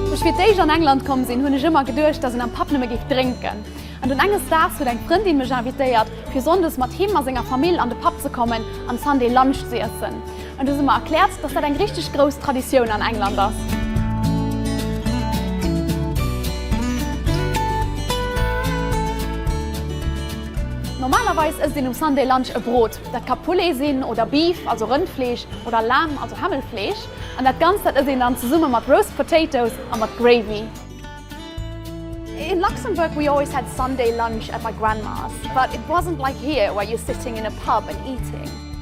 Wou ech fir d'éischt an England komm sinn, hunn ech ëmmer geduecht, dass een am Pub nëmme géif drénken. An dunn enges Daags huet eng Frëndin mech invitéiert, fir sonndes mat him a senger Famill an de Pub ze kommen an Sunday Lunch ze iessen. An du se mer erklärt, dass dat eng richteg grouss Traditioun an England ass. Normalerweis ësst een um Sunday Lunch e Brot. Dat ka Poulet sinn oder Beef, also Rëndfleesch, oder Lamb, also Hämmelfleesch. An dat Ganzt, dat ësst een dann zesumme mat Roast Potatoes a mat Gravy. In Luxembourg we always had Sunday Lunch at my grandma's, but it wasn't like here where you're sitting in a pub and eating.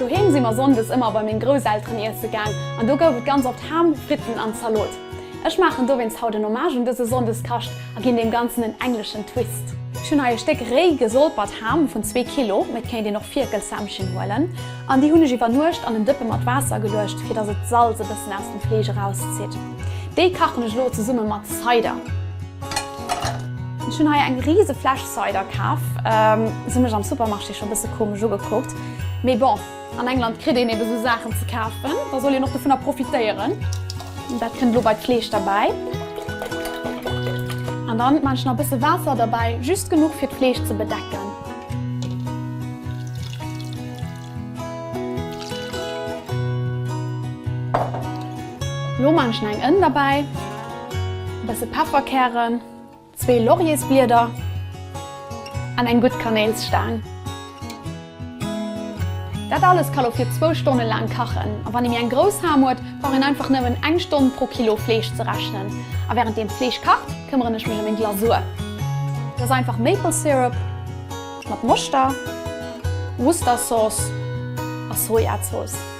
Doheem si mer Sonndes ëmmer bei meng Grousselteren iesse gaang an do gouf et ganz oft Ham, Fritten an Zalot. Ech maachen dowéinst haut en Hommage un dëse Sonndeskacht a ginn deem Ganzen en engleschen Twist. Ech hunn hei e Stéck réi gesolpert Ham vun zwee Kilo, mee et kéint een och Fierkelshämmchen huelen, an déi hunn ech iwwer Nuecht an en Dëppe mat Waasser geluecht, fir dass et d'Salz e bëssen aus dem Fleesch erauszitt. Déi kachen ech elo zesumme mat Cider. Ech hunn hei eng riise Fläsch Cider kaf. Se mech am Supermarché scho bësse komesch ugekuckt. Mee bon, an England kritt een ebe sou Saachen ze kafen, da soll een och dovunner profitéieren. Dat kënnt elo bei d'Fleesch derbäi. An dann maan ech nach bësse Waasser derbäi, just genuch fir d'Fleesch ze bedecken. Lo maan ech nach eng Ënn derbäi. e bësse Pefferkären, zwee Lauriersblieder an eng gutt Kanéilsstaang. Dat alles ka lo fir zwou Stonne laang kachen. A wann ee méi eng grouss Ham huet, brauch een einfach nëmmen eng Stonn pro Kilo Fleesch ze rechnen. A wärend deem d'Fleesch kacht, këmmeren ech mech ëm eng Glasur. Dat ass einfach Maple Syrup mat Moschter, Worcestersauce a Sojazooss.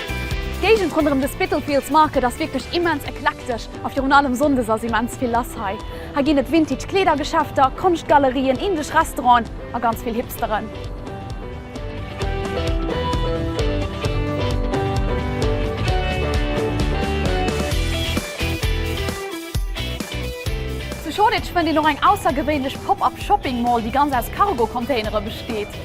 D'Géigend ronderëm de Spitalfields Market ass wierklech immens eklektesch a virun allem sonndes ass immens vill lass hei. Hei ginn et Vintage Kleedergeschäfter, Konschtgalerien, indesch Restauranten a ganz vill Hipsteren. Zu Shoreditch fënnt een och eng aussergewéinlech Pop-Up Shopping Mall, déi ganz aus Cargo-Containere besteet.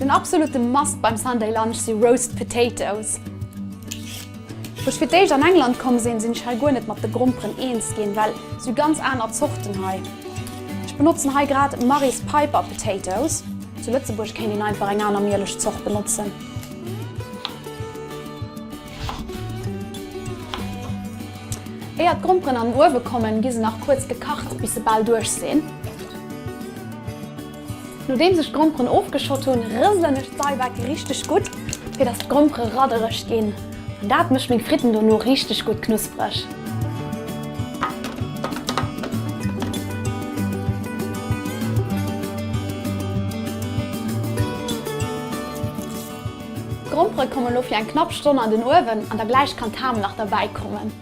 Den absolute Must beim Sunday Lunch si Roast Potatoes. Wou ech fir d'éischt an England komm sinn, sinn ech hei guer net mat de Gromperen eens ginn, well sou ganz aner Zorten hei. Ech benotzen hei grad Mary's Piper Potatoes. Zu Lëtzebuerg kéint een einfach eng aner Mieleschzort benotzen. Éier d'Gromperen an den Uewe kommen, gi se nach kuerz gekacht, bis se bal duerch sinn. Nodeems ech d'Gromperen ofgeschott hunn, rëselen ech d'Seiwecke richteg gutt, fir dass d'Grompere raddereg ginn. An dat mécht meng Fritten dono richteg gutt knuspereg. D'Grompere komme lo fir eng knapp Stonn an den Uewen an da gläich kann d'Ham nach derbäi kommen.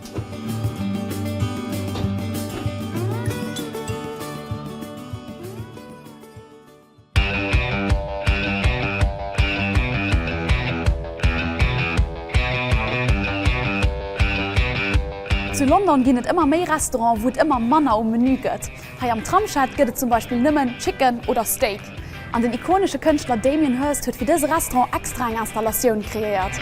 Zu London ginn et ëmmer méi Restauranten, wou et ëmmer manner um Menü gëtt. Hei am Tramshed gëtt et zum Beispill nëmmen Chicken oder Steak. An den ikonesche Kënschtler Damien Hirst huet fir dëse Restaurant extra eng Installatioun kreéiert.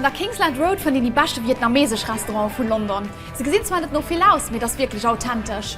An der Kingsland Road fënnt een déi beschte vietnamesesch Restauranten vu London. Se gesinn zwar net no vill aus, mee et ass wierklech authentesch.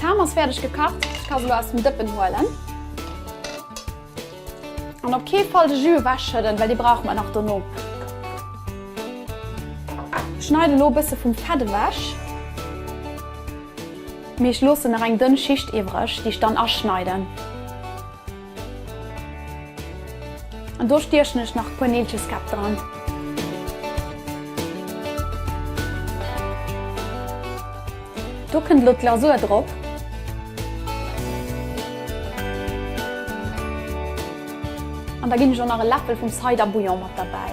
D'Ham ass fäerdeg gekacht, ech ka se elo aus dem Dëppen huelen. An op kee Fall de Jus ewechschëdden, well dee brauche mer nach dono. Ech schneiden elo e bësse vum Fett ewech. Mee ech loossen nach eng dënn Schicht iwwreg, déi ech dann aschneiden. An do stiechen ech nach e puer Neelcheskäpp dran. Do kënnt elo d'Glasur drop. An da ginn ech och nach e Läffel vum Cider Bouillon mat derbäi.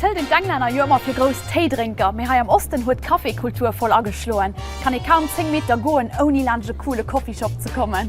Et hëlt een d'Englänner jo ëmmer fir grouss Téidrénker, mee hei am Osten huet d'Cafékultur voll ageschloen. Kann ee kaum 10 Meter goen ouni laanscht e coole Coffeeshop ze kommen.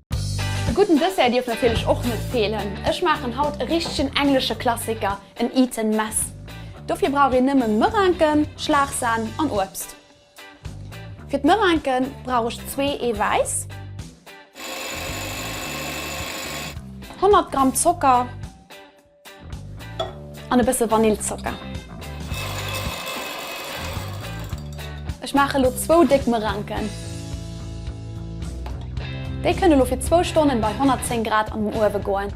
E gudden Dessert dierf natierlech och net feelen. Ech maachen haut e richtegen englesche Klassiker, en Eton Mess. Dofir brauch een nëmmen Merinken, Schlagsahn an Uebst. Fir d'Merinken brauch ech zwee Ee Wäiss, 100 Gramm Zocker, An e bësse Vanillzocker. Ech maache lo zwou déck Merenken. Déi kënne lo fir zwou Stonnen bei 110 Grad an den Uewe goen.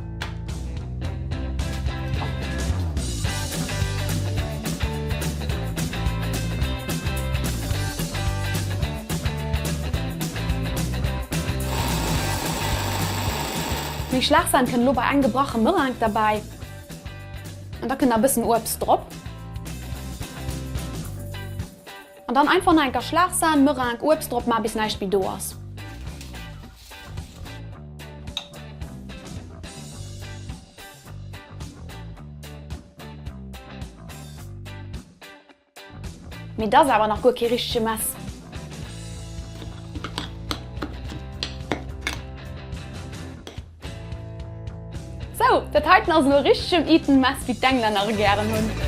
Déi Schlagsen kënn elo bei eng gebrache Meringue derbäi an da kënn da bëssen Uebst drop. An dann einfach nach eng Kéier Schlagsen, Meringue, Uebst drop man bis näischt méi do ass. Mee dass awer nach guer kee richtege Mess. Sou, dat heiten ass elo e richtegen Eton Mess, wéi d'Englänner e gären hunn.